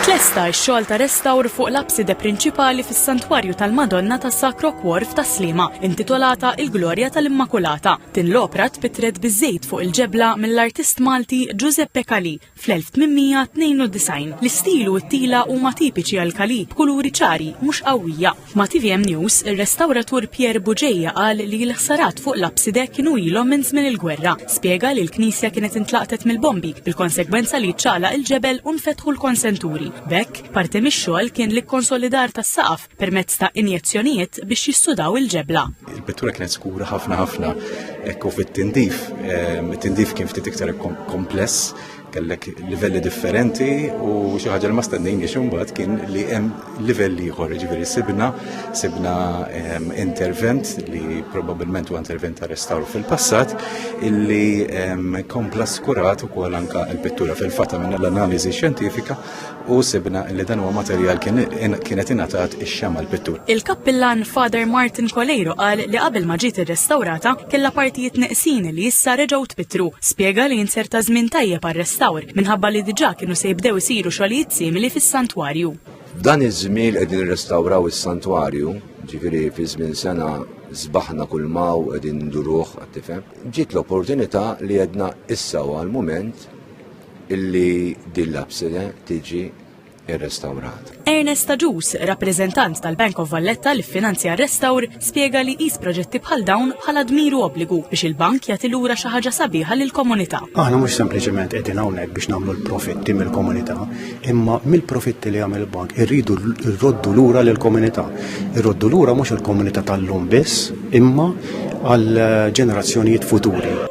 Tlesta x-xogħol ta' restawr fuq l-abside prinċipali fis-Santwarju tal-Madonna tas-Sacro Cuor f'Tas-Sliema, intitolata Il-Glorja tal-Immakulata. Din l-opra tpittret biż-żejt fuq il-ġebla mill-artist Malti Giuseppe Calì, Fl-1892, l-istil u t-tila huma tipiċi għal Kali, b'kuluri ċari, mhux qawwija. Ma' tvm News, ir-restawratur Pierre Bugeja qal li l-ħsarat fuq l-apside kienu ilhom minn żmien il-gwerra. Spjega li l-knisja kienet intlaqtet mill-bombi, bil-konsegwenza li ċċaqlaq il-ġebel u nfetħu l-konsenturi. B'hekk, parti mix-xogħol kien l-ikkonsolidar tas-saqaf permezz ta' injezzjonijiet biex jistudaw il-ġebla. Il-pittura kienet skura ħafna ħafna ekku fit-tindif. Ehm, it-tindif kien ftit iktar kompless, kellek livelli differenti u xi ħaġa li ma stennejn biex imbagħad kien li hemm livelli ieħor, ġifieri sibna sibna ehm, intervent li probabbilment huwa intervent ta' restawr fil-passat illi ehm, kompla skurat ukoll anka l-pittura fil-fatta minn l-analiżi xjentifika u sibna li dan huwa materjal kienet ingħatat ix-xama l-pittur. Il-kappillan Father Martin Coleiro qal li qabel ma ġiet irrestawrata kellha partijiet neqsin li issa reġgħu tpittru. Spjega li inserta żmien tajjeb għar-restawr minħabba li diġà kienu se jibdew isiru xogħlijiet simili fis-santwarju. Dan iż-żmien qegħdin irrestawraw is-santwarju, ġifieri fi żmien sena zbaħna kull maw qegħdin nduruh għat-tifhem. Ġiet l-opportunità li għedna issa għal mument illi din l-absida tiġi irrestawrat. Ernest Aġus, rappreżentant tal-Bank of Valletta li finanzja r-restawr, spjega li jqis proġetti bħal dawn bħala dmiru obbligu biex il-bank jagħti lura xi ħaġa sabiħa lill-komunità. Aħna mhux sempliċement qegħdin hawnhekk biex nagħmlu l-profitti mill-komunità, imma mill-profitti li jagħmel il-bank irridu rroddu lura lill-komunità. Irroddu lura mhux il-komunità tal-lum biss, imma għal ġenerazzjonijiet futuri.